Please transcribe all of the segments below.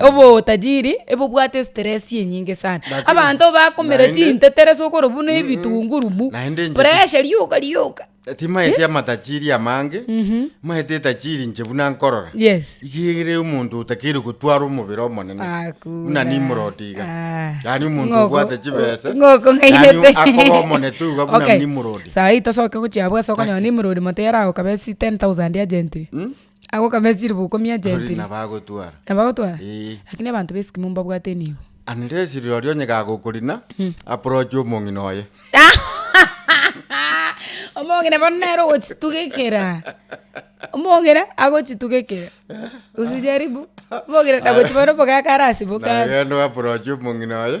obotajiri ebobwate estress enyinge sana. Lakini- Abanto bakomera naende- chintetere ase okorwa buna ebitunguru bu, Naende inche- pressure rioka rioka. Timaeti amatajiri amange, maeti etajiri inche buna nkorora. Yes. Igere omonto otakeire gotwara omobere omonene. Hakuna. Buna Nimrodi iga. Ah. Yaani omonto Ng'oko- obwate chibesa. ng'oko ng'airete. Yaani akoba omonene tu iga buna Okay. Nimrodi. Saii tosoke gochia abwo ase okonyora Nimrod moto yaragokabe ase 10,000 ya gentry. Agokama esiro bokumia chire mpiri. Tori nabo agotwara. Nabo agotwara? Eeh. Lakini abanto b'esikimo mbabwate enibo. Anere esiro roria onye gagokorina, approach omong'ina oye. Omong'ina bono nere ogochitugekera. Omong'ina agochitugekera. Usijaribu. Omong'ina nagochia bono omogaka arasimoke are. Naye agende o approach omong'ina oye.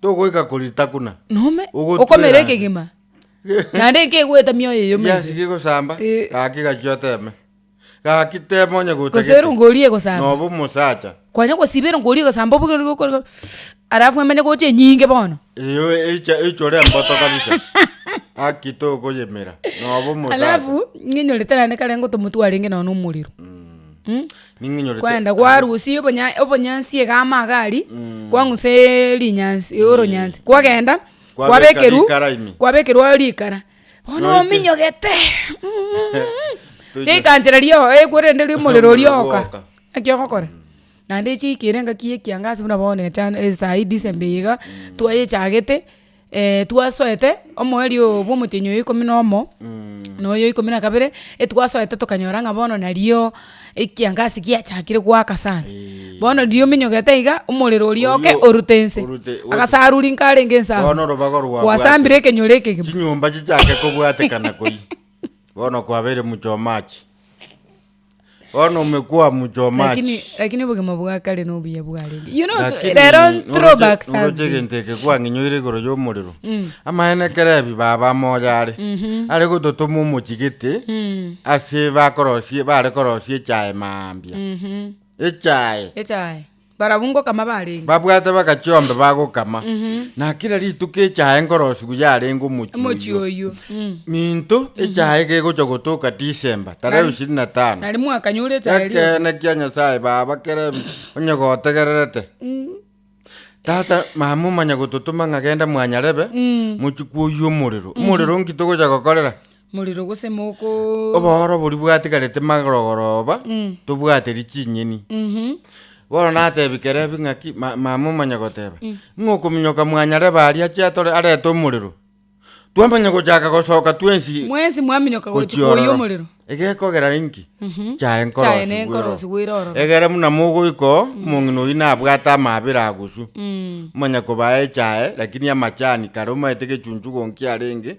Togoika korita kuna. Nome, Ogotwera okomera ase. ekegima. Naende nkegoeta mioyo eyio Ekiasi meibe. kigosamba, Eh. gaki gachia oteme. Gaki teme onye gotagete. Gose ero ngoria egosamba. Nobe omosacha. Kwanya gosiba ero ngoria egosamba obuge ori gokora alafu emanye gocha enyinge bono. Eyo eicha eichore emboto kabisa. Gaki tokoyemera, nobe omosacha. Alafu, ng'enyorete naende kare ngotomotwarenge nonya na omorero. Mh? Kwaenda kwarusia obonya obonyansi iga amaga aria, kwang'usa rinyansi oronyansi, kwagenda kwabekerwa kwabekerwa rikara, bono ominyogete rikancha riria oo ekwerende ria omorero oria ogoka, naki ogokora? Naende echiikire engaki ya ekiangazi buna bono echando esaii December iga, twayechagete. twasoete omweri oo bw'omotienyi oyo ikomi na omo, na oyo ikomi na kabere, etwasoete tokanyora ng'a bono nario ekiangasi giachakire goaka sana. Bono riria ominyogete iga, omorero oria oke Oyio- orute ense. orute- ote- Agasaruri nkarenge ense abwo. Bono orobaga orwabwate- Gwasambire ekenyoro ekegima. chinyomba chichake kobwatekana koi bono kwabeire muchomachi. Bono omekwa omuchoma lakini achi. lakini obogima bwa kare nobuya bwarenge you know Lakini rero oroche- throw back oroche Thursday egento eke kwang'inyoire igoro y'omorero amaene ekero ebi baba amoyo are are gototoma omochigete Mm, ase bakorosie bare korosia echae mambia mhm. echae echae Barabwo ngokama barenge. Babwate bagachia ombe bagokama, na kera rituko echae nkorosigu yarenge omochie Omochie oyio. oyio. Mm. Minto echae gegocha gotoka December tarehe Nari- ishirini na tano. Nari mwakanyure echae erio. Ekeene kia Nyasaye baba kere em- onye gotegererete. Tata mama omanya gototoma ng'a genda mwanyarebe mochikwa oyio omorero. Omorero nki togocha gokorera? Morero gose moko. Obooro boria bwatigarete magorogoroba Mm. tobwaterie chinyeni Mhm. bono natebi kerebi ng'aki ma- mama omanya goteba ng'a okominyoka mwanyare baria ache atore arete omorero twamanya gochaka gosoka twensi Mwensi mwaminyoka gochi koyia gochiororo omorero. egekogera inki Mhm. chaye nkorosi Chaye ne bweroro. nkorosi bwere ororo. egere buna mogoika oo omong'ina oyio nabwate amabere aguswa Mm. omanya kobaa echaye lakini amachani kare omanyete gechunchu gonki arenge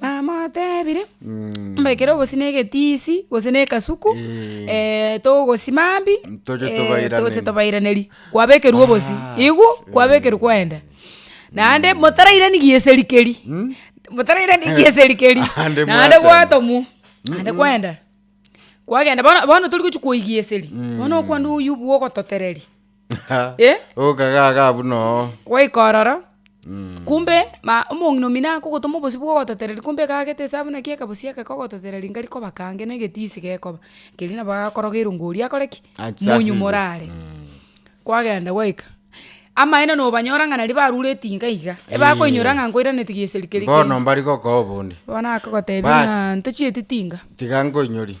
Namoteebire, mbekere obosio na egetiisi, gose na ekasuku, togosi mambia, Ntoche tobairaneri. toche tobairaneri, kwabekerwa obosio, Aas, igw, kwabekerwa kwaenda. Naende motarairani gieseri keria, motarairani gieseri keria, Ande naende mwatema. gwatomwa, naende kwaenda, kwagenda bono bono tori gochia koigwa eseri, bono okwana oywo bwogototereria. Eh? Okagaga buna oo. goika ororo kumbe ma- omong'ina omino akogotoma obosio bwogototereri kumbe ekagete esabu naki ekabosio eke kogototereri ngari koba kange na egetisi gekoba keria nabo agakorogerwa ng'a oria akore ki? Achasirwe. monyumore are. Kwagenda gwaika, amaene nobanyora ng'a naria barure etinga iga, ebakoinyora ng'a nkoiranetie geseri keria Bono kende. mbari gokoa obondi. Bono akogotebia Bas. ng'a ntochieti tinga. Tiga nkoinyorie.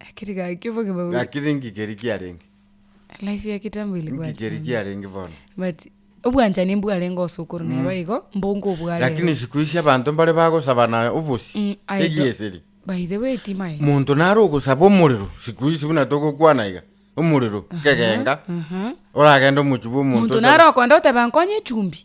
Akiri gaki gaki obogima bobe. Gaki ng'iki keria kiarenge. Life ya kitambo Ng'iki ilikuwa keria tamu. kiarenge bono. But obwanchani mbwarenge gose okorwa nero igo, mbongo obware Lakini ere. siku ici abanto mbare bagosabana obosie, Mm, aye do- egieseri. By the way timae. Monto nare ogosaba omorero, siku ici buna togokwana iga, omorero, kegenga, Aha. oragende omochie bwa omonto Monto osabe. naro okoenda oteba nkonye echumbi.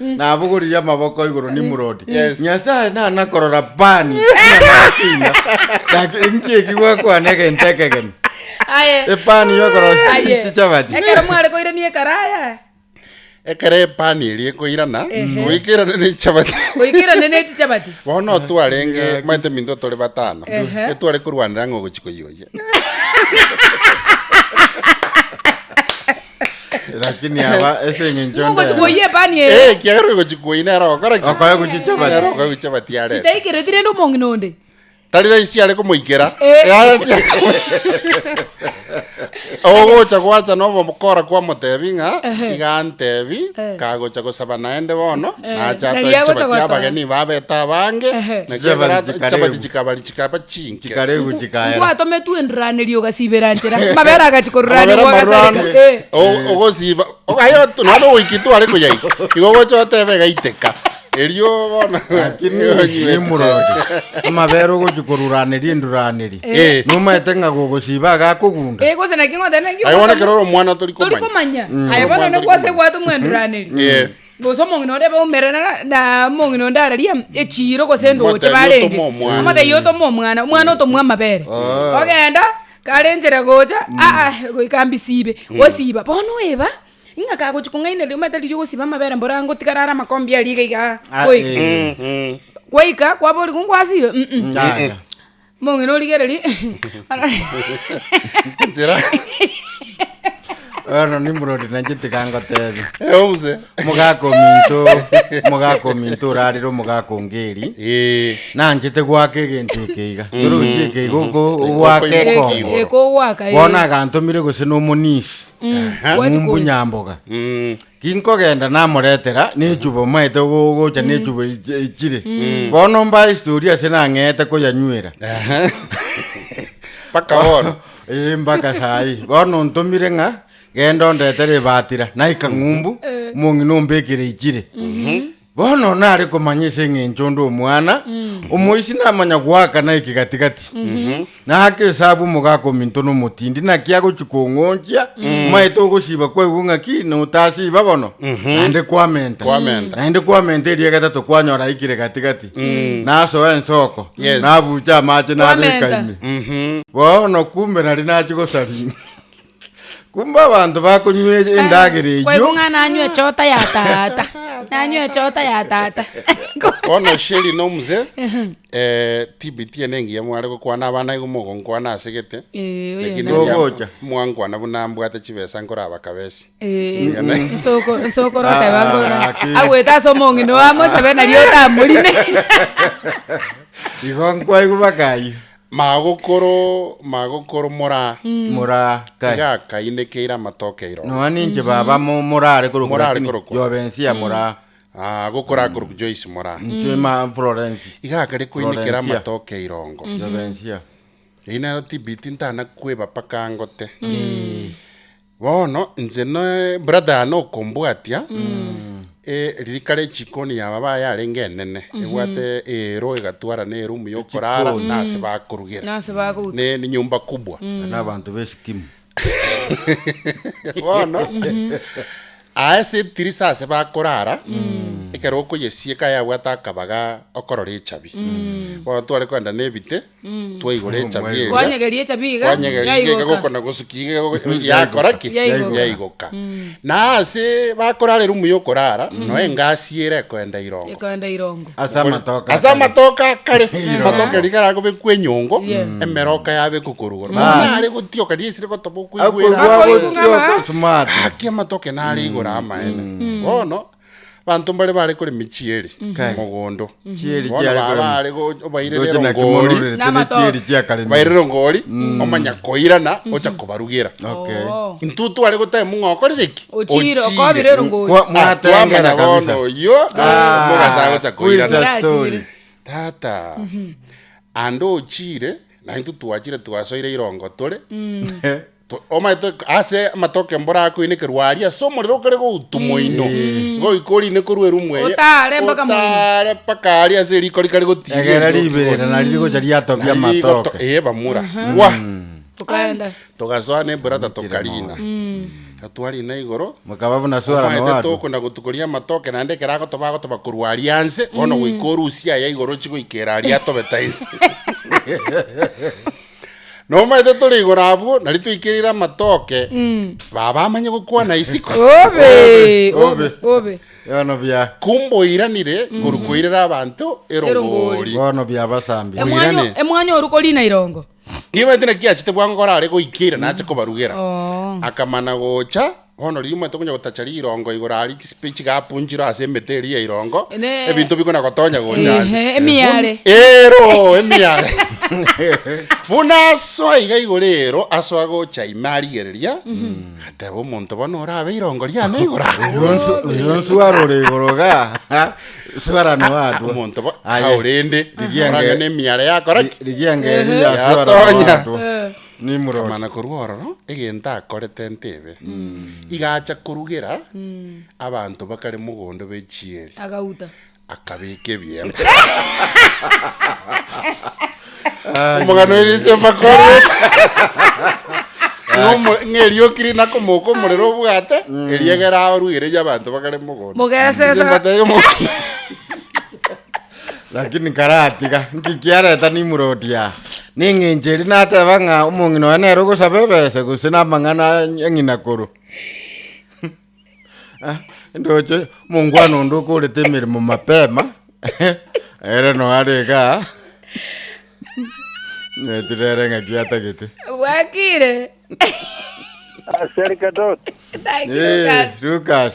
nabogoririe amaboko igoro Nimrodi. Nyasae nanakorora bani namatina. Laki enki eki gwakwana egento ekegeni. Aye. Epani yokorosia Aye. ichi chabati. Ekero mware koirania ekaraya. Ekero epani eria ekoirana, Ehe. goikerane ne chabati. Goikerane ne chichabati. Bono twarenge maete minto tore batano. Ehe. Etware korwanera ng'a ogochi koyoyia. lakini aba ese eng'encho Ng'o ndere. gochikuoyia epani eye Eh, kiagera ogochikuoi nere ogokora ki? Okoe gochicha bati. Nere okoe gochicha bati arete. chitaikereti rende omong'ina onde Tari rahisi are komoikera. Eh. Yaya chiare komo- Ogocha gwacha na obokora kwamotebi ng'a Ehe. iga antebi Eh. kagocha gosaba naende bono Eh, nacha nari atoe agocha chabati gotoa. abageni babeta abange Ehe. na kiagera Chabati chikaribu. chabati chikabari chikaba chingi Chikaregwe chikaera. Nkwatometwe endraneria ogasibera nchera. Amabere agachi korora Amabere nigwa amarure ande. gasareka. Eh. O- ogosiba O- aye otu- nonye ogoiki tware koyaika igo ogocha otebe egaiteka erio bono Lakini ni murode amabere ogochi koruraneria enduraneria Eh. nomaete ng'a gogosiba agakogunda Eh, gose naki ng'oteba naki aye bono ogotoma- ekero ore omwana tori tori komanya komanya aye bono Omwana ne tori kwase komanya. gwatoma endraneria Yeah. Gose omong'ina onde baumerana na- na omong'ina onde araria echiiro gose endooche Motebi barenge. otome omwana. Omotebi otome omwana, omwana otomwe amabere. Ah. Ogenda, kare enchera gocha, aa goika mbisibe, osiba. Bono oeba, ng'a kagochia kong'ainereria omanyete riria ogosiba amabere mboro ango tikarara amakombe aria iga igaa, Ah, goika. eh. Gwaika, kwaboria, kongwasibe? Mh-mh. Yaya. Mong'ina origererie Nsira. Bono Nimrod nainche tiga ngotebie. Euse. Omogaka ominto, omogaka ominto orarire omogaka ongeri. Eh. Nanchete gwaka egento ekeiga. Torochi ekeiga oko- ogwaka Okoiga ekongo. ekiigo. Ekogwaka, eh. Bono agantomire gose nomonisi. Aha. Gwachi Mumbu koiga. Nyamboga. Mm. Ginkogenda namoretera nechuba omaete gogocha nechuba echi- echire. Bono mbae historia ase nang'eete koyanywera. Mpaka bono. Eh, mpaka sayi. Bono ntomire ng'a genda ondetere ebatira naika ng'umbu, omong'ina ombekere echire. Bono nare komanya ase eng'encho onde omwana omoisi namanya goakana eke gati-gati, na ake esabu omogaka ominto na omotindi, naki agochia kong'onchia, omaete ogosiba kwaigwa ng'a ki, notasiba bono, naende kwamenta. Kwamenta. Naende kwamenta erio egetato kwanyora aikire gati-gati, nasoa ensoko, Yes. nabucha amache nabeka Kwamenta. ime. Bono kumbe nari nachia gosaria ime. Kumbe abanto bakonywa e- endagera eyio Kwaigong'a nanywe chota ya tata. Nanywe chota ya tata. Bono Sheri na omuse eh, tibiti ene engiya mware gokwana abana igo mogonkwana ase gete Eh, oyo Lakini nani? Gogocha. mwankwana buna mbwate chibesa nkorabakabesi Eh, Ngana- nsoko- nsokoro Ah, oteba ngora, ah, ki- agwete ase omong'ina oamosebe nari otamorine. igo nkwaigu bakayia Magokoro, magokoro mora, Mora kae. iga akainekeire amatoke iro. Noa ninche baba mo- morare korokwa Morare lakini korokwa. Jovensia mora. Ah, gokora akorokwa Joyce mora. Inche ma Florence. Iga akare koinekera Florencia. amatoke irongo. Jovensia. Eyi nero tibiti ntana kweba paka ngote. Bono inche n'ebrother yane okombwatia, eh, ririka ria echikoni ya baba yarenge enene, ebwate eero egatwarana eroom y'okorara na ase bakorugera. Nase bagoika. Ne ni nyumba kubwa. na abanto b'esikimu Bono, aa ase etirisa ase bakorara, ekero okoyesieka yabwate akabaga okorora echabi. Bono tware kogenda na ebite, twaigora echabi eria, Kwanyegeria echabi iga, kwanyegeria iga yaigoka. egokona gosukia iga egogo- yakora ki Yaigoka. yaigoka na ase bakorara erumu ya okorara no engasi ere ekoenda irongo Ekoenda irongo. ase amatoka ase akare. amatoka akare Irongo. amatoka riga ragobekwa enyongo emeroka yabekwa korwa igoro bono nare gotioka riria esire gotoba okoigwera Akoigwa Akoigwa gotioka ng'a- smart. haki amatoke nare igoro amaene bono Abanto mbare baare korema echieri mogondo, Chieri bono chiare korema. baare go- obairere Ndoche naki mono erongori, orerete Na amatoke. nechieri chiakaremire. obairere erongori, omanya koirana, ocha kobarugera. Okay. Oo. Intwe tware gotema ng'a okorire ki? Ochire, okobire erongori. Kwa- Ah, mwatengera twamanya bono kabisa. oyio, Ah, omogasa agocha who is koirana. that story? Ndachire. tata ande ochire naintwe twachire twasoire irongo tore Omanyete ase amatoke mbora akoinekerwa aria ase omorero okare goutu moino, goika orinekorwe erumu eye, Otaare mpaka moino. otaare mpaka aria ase eriko rikare gotiria Egera erioki riberera gocha. nari rigocha riatobia Nari rigoto- amatoke. ee, bamura Gwa! Tokaenda. togasoa na eburata tokarina gatwarina igoro Mokaba buna swara Omanyete nowatu. tokona gotukoria amatoke naende ekero agotoba agotoba korwa aria anse bono goika orusia aya igoro ochi goikera aria atobeta inse Nomaete tore igoro abwo, nari toikereire amatoke, baba amanye gokwana isiko. Obe, obe, obe. Yono bia Kumboiranire korwa koirera abanto erongori. bono bia basambi. Em- Emwanyo- Oirane. emwanyo oru korina irongo Nibaete naki achete bwango korare goikeira nache kobarugera. Oo. Akamana gocha Bono riria omanyete okonya gotacha rirongo igoro aria chisipe chigapunchirwe ase emete eria ya irongo, Ne- ebinto bikona gotonya gocha Ehe, ase. emiare. Bun- Ero, emiare. Buna asoa iga igoro ero, asoa gocha ime arigereria, ateba omonto bono orabe irongo riane igoro aa. oyonswara ore igoro ga swara na wadwa Omonto bo, Aye. aurende, Rigienge- orang'ane emiare yakora ki? rigienge Ehe. yaswara na Yatonya. wadwa Nimrodi. Mana korwa ororo egento akorete ntebe. Iga acha korugera abanto bakare mogondo b'echieri, Agauta. akabeka ebiempe. Omogano eriche bakore. Ng'omo- Ng'erioki rina komoka omorero obwate, eriegera arugereria abanto bakare mogondo. Mogesesa. Inche mbatebie omo- Lakini nkaratiga, nki kiareta nimuroti aa? Neng'encho eria nateba ng'a omong'ina oye nere ogosaba ebesa gose namang'ana a ng'ina korwa Ah, ndoche omongwana onde okorete emeremo mapema ere no are igaa nyetire ere ng'aki atagete Bwakire. Aseri Kadot. Thank you, Eh, Lucas. Lucas.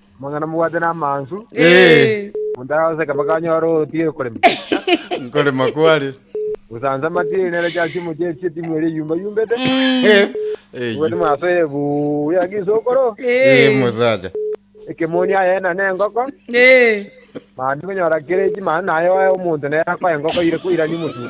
Mang'ana mobwate namansu, Ee, monto aragoseka mpaka anyore otiga okorema. nkorema kware. Gosansa amatiri nere chiasi omochie echi etimu eria eyumbayumbete. Eh, eh, Obwate mwasoire buu ya gisokoro, eh, mosacha. ekemoni aye na nengoko. Eh, Mambia konyora kere echi mani naye oe omonto nere akoe engoko ire koirania omotuko.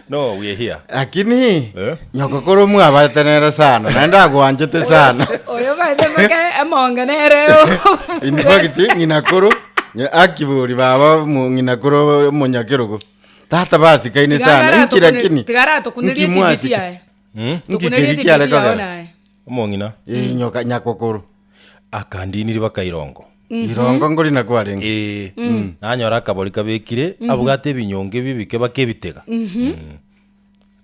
No, we hear. Lakini Eh? nyoko koro mwabate nere sana naende agwanchete sana Oyo baete mpaka emonga nereo. in fact ng'ina koro nye- akibori baba mu- ng'ina koro monyakerogo tata basikaine sana nki lakini Tigara tukundirie nki TV mwasika- yae. nki Tukundirie keri TV kiareka yae ogera? naye. Omong'ina. Eh, nyoka nyakokoro Akandiini ribaka irongo. Irongo ngori na kwarenge. Ee, nanyora akabori kabekire, abwate ebinyongo ebi bikebaka ebitega. Mm.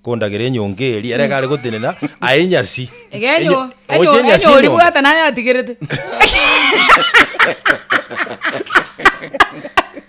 Kondagera enyongo eria, ere gare gotenena, aye enyasi. Iga enyo- Enye- enyo- oche enyasi enyori enyongo. bwata naye atigerete.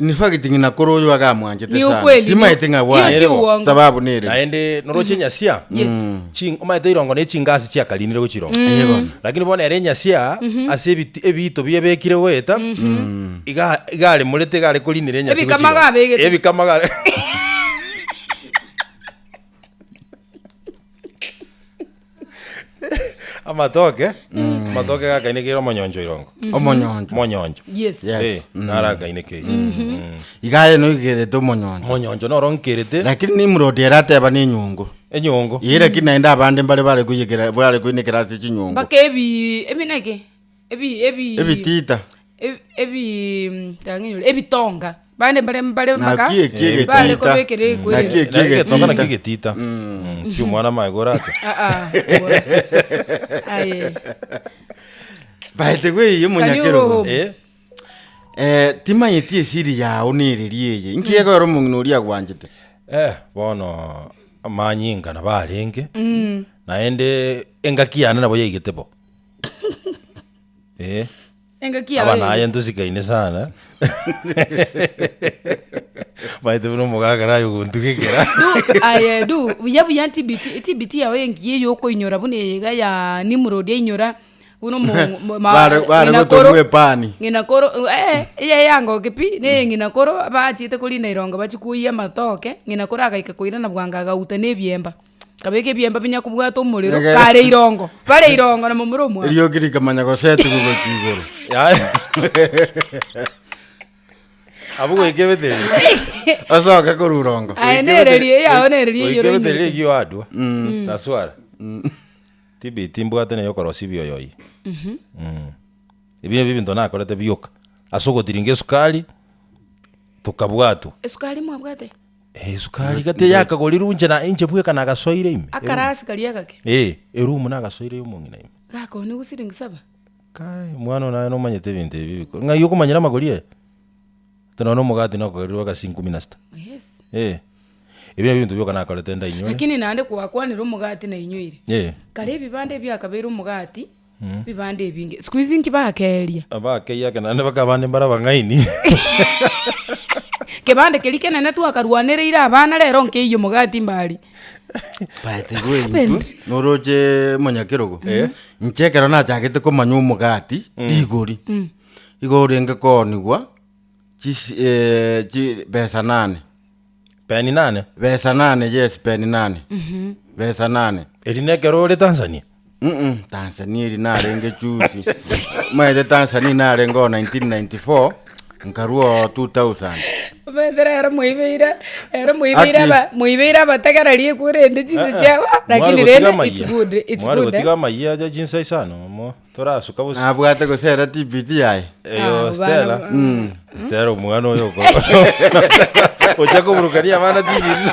In fact, ng'ina kore oyo iga amwanchete Ni sana. ukweli, Timaete ni- ng'a hiyo si bwanire bo. uongo. Sababu nere. naende noroche enyasia Yes. Ching- omanyete irongo ne chingasi chiakarinire gochirongo Eye bono. lakini bono ere enyasia ase ebit- ebiito biebekire goeta iga iga aremorete iga are korinera enyasia Ebikama gochirongo. gabegete. ebikama ga Amatoke, amatoke gakainekeire omonyoncho irongo. Omonyoncho. Monyoncho. Yes. Yes. Eh, nara akainekeire. Mm. Iga aye noigerete omonyoncho. Monyoncho noro nkerete Lakini Nimrod ere ateba ne enyungu. enyongo. Ye lakini naende abande mbare bare koyekera bare koinekera ase chinyungu. Mpaka ebi ebi naki ebi- ebi- Ebitita. eb- ebi- mm, tang'ani ore, ebitonga, bande mbare mbare mpaka, Naki eki Eh, egetita. bare kobekera ekwere. Naki eki Naki egetonga naki egetita. egetita. Mm, tiki omwana amaye korata. Ah, ah, obo. Aye. Baete gweiyo Can you go monyakero. home? Eh, Eh, timanyeti esiri yao nereri eye. Inki egoera omong'ina oria agwanchete. eh, bono amanyinga nabo arenge. Naende engaki yane nabo yaigete bo. Eh, Engaki yaye. abana aye ntosikaine sana maete buna omogaka naye ogontugekera Du, aye, du, buya buya ntibiti, etibiti yao engiya eyo okoinyora buna eyeiga ya Nimrod ainyora buna omo- mo- ma- Bare- bare ng'ina koro- gotomwa epani. ng'ina koro, eh, eye eyangoke pi, na eye ng'ina koro bachiete korina erongo bachi koyia amatoke, ng'ina koro agaika koirana bwango agauta na ebiemba. Kabeka ebiemba binya kobwata omorero Egere. kare irongo bare irongo na momura omwabo Eriogi rikamanya gosetigwa gochia igoro. Abwo goika ebeteri. Osoke korwa irongo. Aye nererie eyao nererie eyoro Goika ebeteri ing'irite. egio adwa. Naswara. Tibi timbwate na yokorosia bioyoyi. Mm. Ebi nabio ebinto nakorete bioka. Ase ogotiringa esukari tokabwatwa. esukari mwabwate Esukari iga teyakagorirwe inche na inche bweka nagasoire ime. Akaraa sukari egake. Eh, erumu nagasoire y'omong'ina ime. Gakoni gwa siringi saba. Kai, mwana oyo naye nomanyete ebinto ebi biko. Ng'ai okomanyera amagori aye? Ati nonya omogati nakogerirwe agasi inkumi na sita. Yes. Eh, ebi nabio ebinto bioka nakorete ndainyore. Lakini naende gwakwanire omogati nainyoire. Eh. Kare ebibanda ebi biakabeire omogati. Bibande ebinge siku hizi nki bakeria? Abakeyi ake naende baka abande mbare abang'aini. Kebande keria kenene twakarwanereire abana rero nkeiyo omogati mbari. But igo intwe noroche monyakerogo inche ekero nachagete komanya omogati rigori igo orenge koonigwa chisi- eh, chibesa nane Peni nane. Besa nane, yes, peni nane. Besa nane. Eri nekero ore Tanzania? Mm-mm, Tanzania eri narenge chusi. Maete Tanzania narenge o 1994, nkarua o 2000. Omanyete rero moibeire, rero moibeire Ati. aba, moibeire abategera riekwe rende chinse chiaba, lakini rende it's good, it's Mware good. gotiga eh. amayia aja chinsa isano mo. Torasuka bosio. Nabwate gosera TPT yaye. Eyo Ah, Stella. bana- Mm. Stella omwana oyo oko. Ocha koburukania abana TPT.